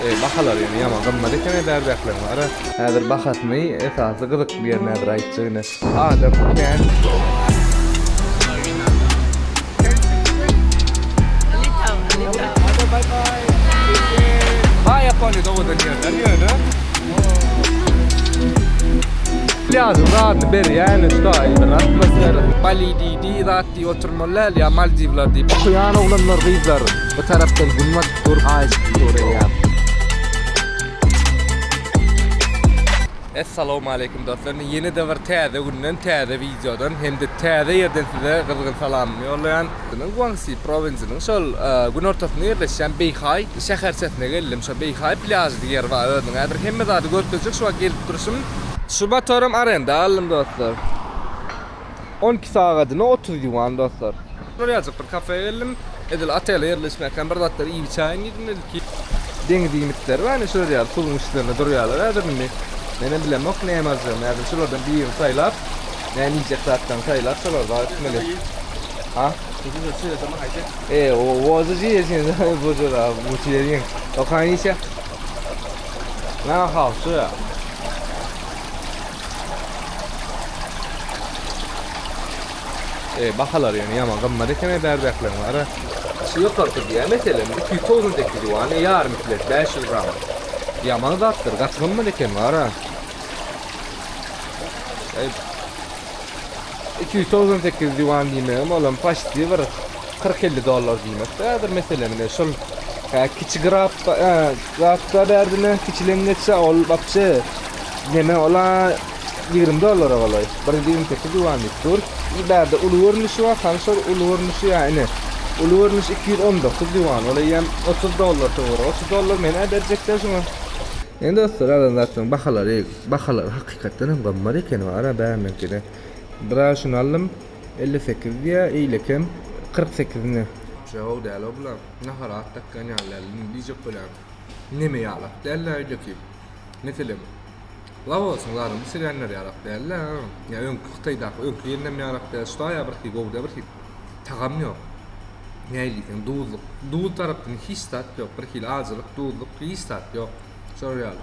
Bahalar ýene ýaman gymmat eken edar bähleň bara. Häzir bahasyny esasy gyzykly ýerini häzir aýtjak ine. Adam kän. Diýip oturmaly däl ýa Maldiwler diýip. Okuýan oglanlar gyzlar bu tarapdan günbat dur haýyşt soraýan. Essalawmaleýkim dostlar ine ýene-de bir täze günden täze wideodan hem-de täze ýerden size gyzgyn salamymy ýollaýan. Gyzynyň Guangsi prowinsiýasynyň şol günortasynda ýerleşýän Beýhaý şäherçesine geldim şo Beýhaý plýažy diýen ýer bar özüniň häzir hemme zady görkezjek şu wagt gelip durşum. Şu motorym arenda aldym dostlar. On iki sagadyna otuz ýuan dostlar. Urýajyk bir kafeýa geldim. Edil otele ýerleşmäkäm bir zatlar iýip-içäýin diýdim ilki. Deňiz iýmitleri bar indi şular ýaly suwuň üstlerinde durýarlar häzir indi. Menem bilemok näme aljagymy häzir şulardan birini saýlap näme iýjek zatlaryny saýlap şolary bar etmeli. Ha? Tutuş öçe ýaşama haýsy? E, o wozy je ýeşen zaýy bojar a bu çeýeň. Okaň işe. Na hawşy. E, bahalary ýöne ýaman gymmat eken-ä bärdäkileriň ara. Şu ýokary turdy-ä, meselem, iki ýüz togsan sekiz ýuan, e, ýarymy kilosi bäş ýüz gram. Ýaman zatdyr, gaty gymmat eken wara. Iki ýüz togsan sekiz ýuan diýmegem, olam paşti bir Kyrk-elli dollar diýmek bärdir meselem ine şol hä kiçi grap hä grapda bärdine kiçileň geçse ol wapşe neme ola ýigrimi dollara golaý bir ýüz ýigrimi sekiz ýuan diýip dur i bärde uly görnüşi bar hany şol uly görnüşi ýa ine uly görnüş iki ýüz on dokuz ýuan ol eýýäm otuz dollar töweregi otuz dollar men-ä berjekler şoňa Ine dostlar alan zatlaryň bahalary bahalary hakykatdan hem gymmat ekeni ara bäriňkide biraz şuny aldym. Elli sekiz diýýä, eýlekem kyrk sekizine. Jaw däl-ow bular. Nahara at dakýan ýalylar. Indi diýjek bolýan, Neme ýaly at däl-ä öýdeki. Meselem, Laosyň laryny çigänler ýaly at däl-ä. Ýa öňki Hytaýdaky öňki gelinem ýaly at däl. Ştaýa birhi gowy-da birhi tagam ýok. Nähili diýseň duzluk. Duz tarapdan hiç zat ýok. Birhili ajylyk, duzluk, hiç zat ýok. Şolar ýaly.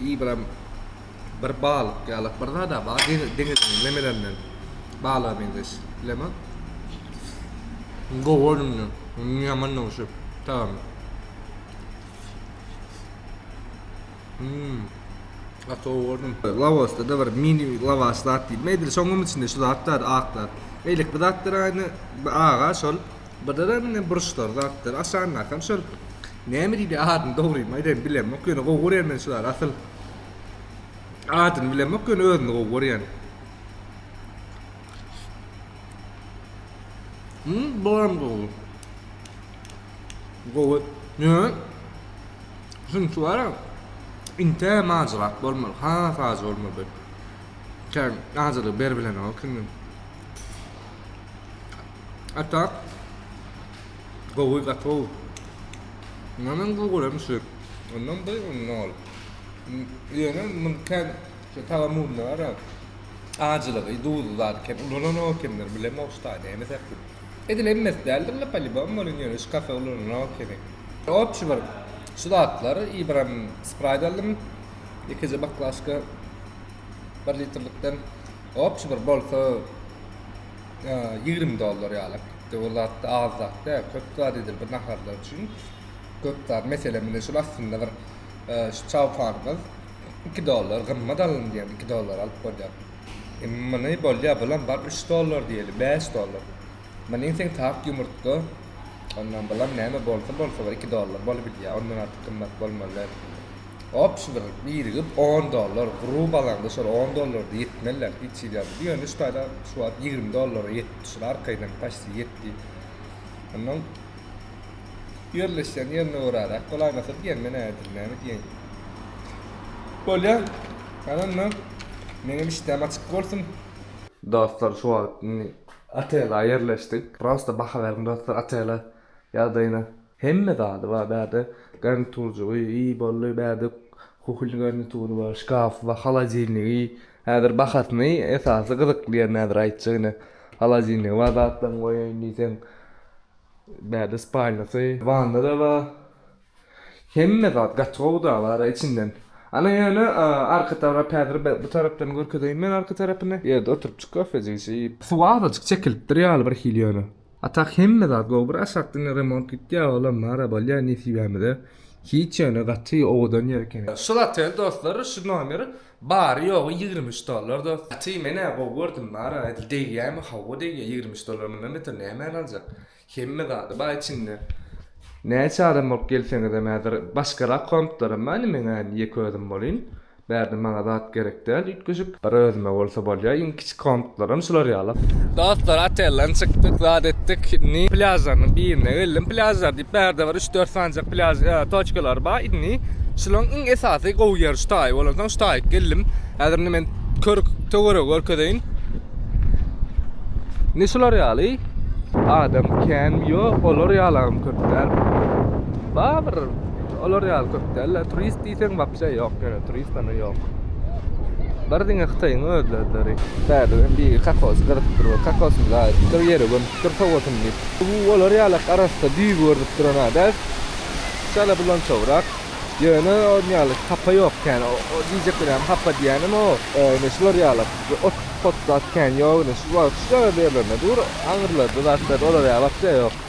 Ibram bir balyk ýalak bir zada bar deňiziň nemelerinden balyga meňzeş bilemok. Gowy önümli. Önümli yaman da şu. Tamam. Hmm. Ata oğurdum. Lavasta da bir mini lavaş zat değil. Medil şoňum içinde şu zatlar aklar. Eylik bir zatlar aynı bir ağa şol. Birdenem indi burçlar zatlar aşandakam şol näme diýdi adyny dogrymy aýdaýyn bilemok ýöne gowy görýän men şulary asyl adyny bilemok ýöne özüni gowy görýän. Hmm, bolam gowy. Gowy. Ýöne şunçy bar. Inte majrak bolmaly. Ha, saz bolmaly. Sen ajalyk ber bilen o kimden? Atak gowy gaty gowy. Mundan gowy görem şu. Ondan bir ondan ol. Ýöne muny kän şu tagamunda bar ya. Ajylygy, duzly zat kän ulananok ekenler bilemok şu taýda näme sebäpli. Edil hemmesi däldir la polibom welin ýöne şu kafe ulananok ekeni. Opşi bir şu zatlar i biram spraýt aldym. Ýekeje baklažka bir litrlikden. Opşi bir bolsa. Ýigrimi dollar ýaly. Indi ol zat-da az zat däl. Köp zat edil bir naharlar üçin. Köp zat. Meselem, indi şul astynda bir şu çawkanymyz iki dollar gymmat alyndy diýen iki dollara alyp bolýar. Indi muny bolýar, bulam bar üç dollar diýeli, bäş dollar. Muny iýseň tak ýumurtga, ondan bulam näme bolsa bolsa bir iki dollar bolup bilýär. Ondan artyk gymmat bolmaly däl. Ops bir birigip on dollar gru balaňda şol on dollarda ýetmeliler hiç hili ýa bu ýöne şu taýda şu wagt ýigrimi dollara ýetipdi şul arkaýynam paçti ýetdi onnoň ýerleşýän ýerine göräräk bolaýmasa diýen men ädim näme diýeýin bolýa hany onda meňem işdäm açyk bolsun. Dostlar şu wagt indi otela ýerleşdik prosta baha beriň dostlar otela ýagdaýyna. Hemme zady bar bärde garniturjygy i bolly bärde kuhulny garnitury bar şkafy bar holodilnigi häzir bahasyny esasy gyzykly ýerini häzir aýtjak ine holodilnigi bar zatlaryňy goýaýyn diýseň bärde spalnýasy wannada bar hemme zat gaty gowy da bar içinden ana ýöne arka tarap häzir bu tarapdan görkezeýin men arka tarapyny ýerde oturypjyk kofejik içip suwy azajyk çekilipdir ýaly birhili ýöne. Atak hemme zat gowy bir aşak diňe remont gitýä olam mara bolýa nesibämize hiç ýöne gaty owadan ýer eken. Şu gaty dostlar şu nomer bary ýogy ýigrimi üç dollar dos. Gaty menä gowy gördüm mara edil degýämi hawa degýä ýigrimi üç dollar mundan beter nämäni aljak hemme zady bar içinde näçe adam bolup gelseňizem häzir başgarak kompyterim bar nimeňäni ýek özüm bolyn Bärde maňa zat gerek däl üýtgeşik. Bir özüme bolsa bolýa iň kiçi komtlaram şular ýaly. Dostlar otelden çykdyk zat etdik indi plýažlarynyň birine geldim plýažlar diýip bärde bir üç dört sanjak plýaž toçkalary bar indi şulaň iň esasy gowy ýeri şu taýy bolansoň şu taýyk geldim häzir indi men körük töweregi görkezeýin indi şular ýaly adam känmi ýok olar ýalam köp däl bar bir Olar ýaly köp dälde turist diýseň wapşe ýok ýöne turistan ýok. Bar diňe hytaýyň özlezleri. Bärde hem biri kakos gyryp dur we kakosyny zaýaetipdir ýere gömüpdir sowasyn diýip. Bu olar ýalak arassa düýbi görnüp duran a däl şala bulançawrak ýöne on ýaly hapa ýok kän o diýjek bilen hapa diýenim o ine şular ýalak ot pot zat kän ýok ine şu wagt şu ýaly ýerlerde dur aňyrlarda zatlar olar ýaly wapşe ýok.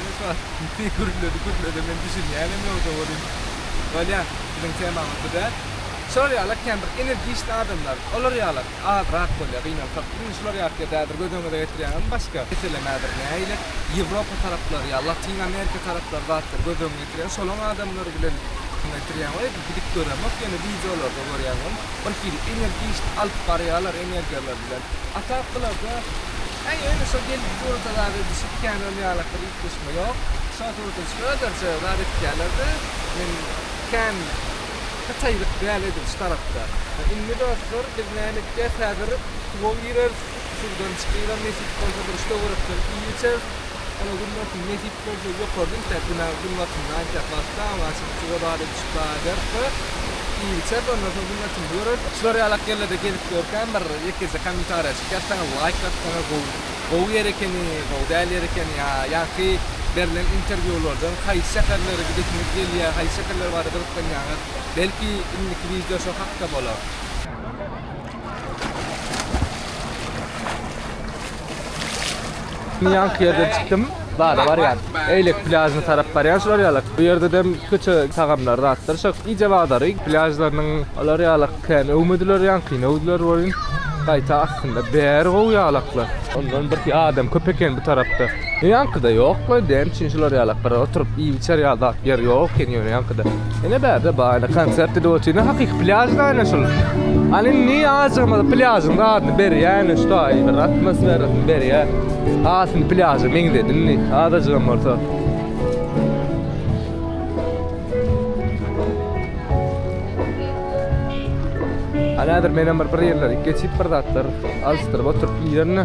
Ine şu wagt ne gürledi gürledi men düşünýänem ýokja welin bolýar biziň temamyz bu däl. Şolar ýaly ekýän bir energiçni adamlar olar ýaly azrak bolýa gynansak indi şular ýatyr dädir göz öňüňize getirýäňizmi başga meselemedr näile ýewropa taraplary ýa latyn amerika taraplary zatlar göz öňüňe getirýäň şolaň adamlary bilen şuňa getirýäň we gidip göremok ýöne wideolarda görýän bir hili energiçni alyp barýalar energiýalary bilen a tak bularda Äý, öýle şo geldi durda zat edişip kän ol ýalakda üýtgeşme ýok. Şo durda şöderje zat edýäler-de, men kän hytaýlyk däl edil şu tarapda. Indi dostlar biz näme etýäs häzir suwa gireris, suwdan çykylar nesip bolsa bir üç töwerekden iý içeris. Ýöne günbatyň nesip bolsa ýokarda inşä günä günbatynda aýtýak wagtda oňa çenli suwa zat edişip Çykladar we iýgiçe bolmaz hökümetimiz görür. Şular ýaly ýerlerde gezip ýörkäm bir ýekeje kommentariýa çykýar saňa laýk bassaňa gowy gowy ýer ekeni gowy däl ýer ekeni ýa ýaňky berlen interwýulardan haýsy şäherlere gidesiňiz gelýär haýsy şäherler barada gyzyklanýaňyz belki indiki wideo şo hakda bolar. Ýanky ýerden çykdym. Bar, barýan. Eýlek plýažyna tarap barýan şular ýaly. Bu ýerde dem köçe tagamlary, zatlar şo iýje bazary. Plýažlarynyň olar ýaly kän öwmediler ýanky, öwdüler welin, gaýta aslynda bäri gowy ýalaklar. Ondan birki adam köp eken bu tarapda. Ýaňkyda ýokmy? Däm üçin şular ýalak bir oturyp iýip içer ýaly zat ýer ýok eken ýöne ýaňkyda. Ine bärde bar ine konsert edip otyr. Ine hakyky plýaž da ine şul. Hany indi azajygymyz plýažyň dadyny berýär ine şu taýy bir atmosferasyny berýär. Has indi plýaža meňzedi indi azajygam bolsa. Haladyr menem bir bir ýerleri geçip bir zatlar alşdyryp oturyp iýerni.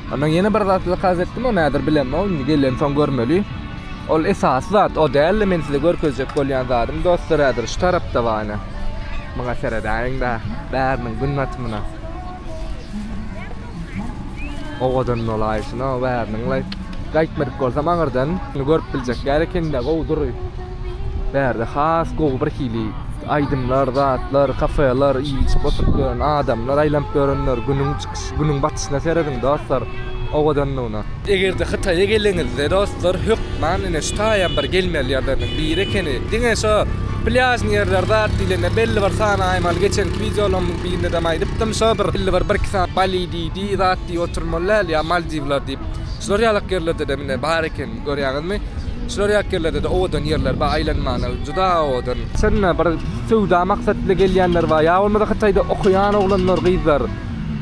Ondan ýene bir zat zakaz etdim, o nädir bilemok, indi gelensoň görmeli. Ol esasy zat o däldi, men size görkezjek bolýan zadym dostlar häzir şu tarapda bar ine. Muňa seredäýiň-de, bäriniň gün batymyna. Owadan bolaýşyna, bäriniň-le. Gaýtmadyk bolsam aňyrdan indi görüp biljek ýaly ekeni-de, gowy dury. Bärde has gowy birhili aýdymlar, zatlar, kafeler, iýip-içip oturyp ýören adamlar, aýlanyp ýörenler, günüň Günüň batyşyna serediň dostlar, owadanlygyna. Eger-de Hytaýa geleňizde dostlar hökman ine şu taýam bir gelmeli ýerleriniň biri ekeni. Diňe şo plýažny ýerler zat diýlende belli bir sany aý mal geçenki wideolarymyň birindedem aýdypdym şo bir belli bir bir iki sany Bali diýdi zat diýip oturmaly däl ýa Maldiwler diýip. Şular ýalak ýerlerdedem ine bar ekeni görýäňizmi. Şular ýalak ýerlerdede owadan ýerler bar aýlanmana juda owadan. Şonda bir söwda maksat bilen gelýänler bar ýa bolmasa Hytaýda okaýan oglanlar gyzlar.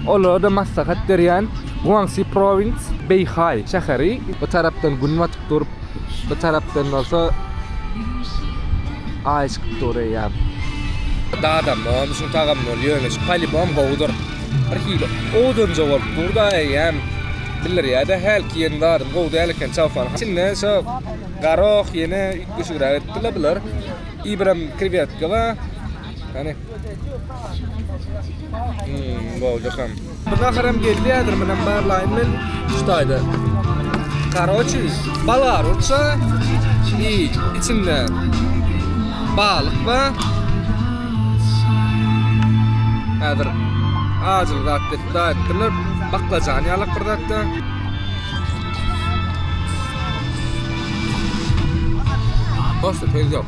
Olara-da maslahat berýän Guangsi Province, Beýhaý şäheri. Bu tarapdan Gün batyp dur, bu tarapdan bolsa Aý çykyp dur eýýäm. Dadam bolmuşyň tagam bol ýöne şu polibom gowudyr. Bir hili odunja bolup dur-da eýýäm. Bildirýä-dä hälki ýerini dadam gowy däl eken çawpanyň içinde şo garok ýene üýtgeşigräk etdi-le bular. Ibram krewetka bar. Hany. Naharam geldi häzir munem barlaýyn men şu taýda. Karoçi balar urça i içinde balyk ba. Häzir ajyl zat dep daýypdyrlar. Baklajan ýalak bir zatda. Hoşdy söz ýok.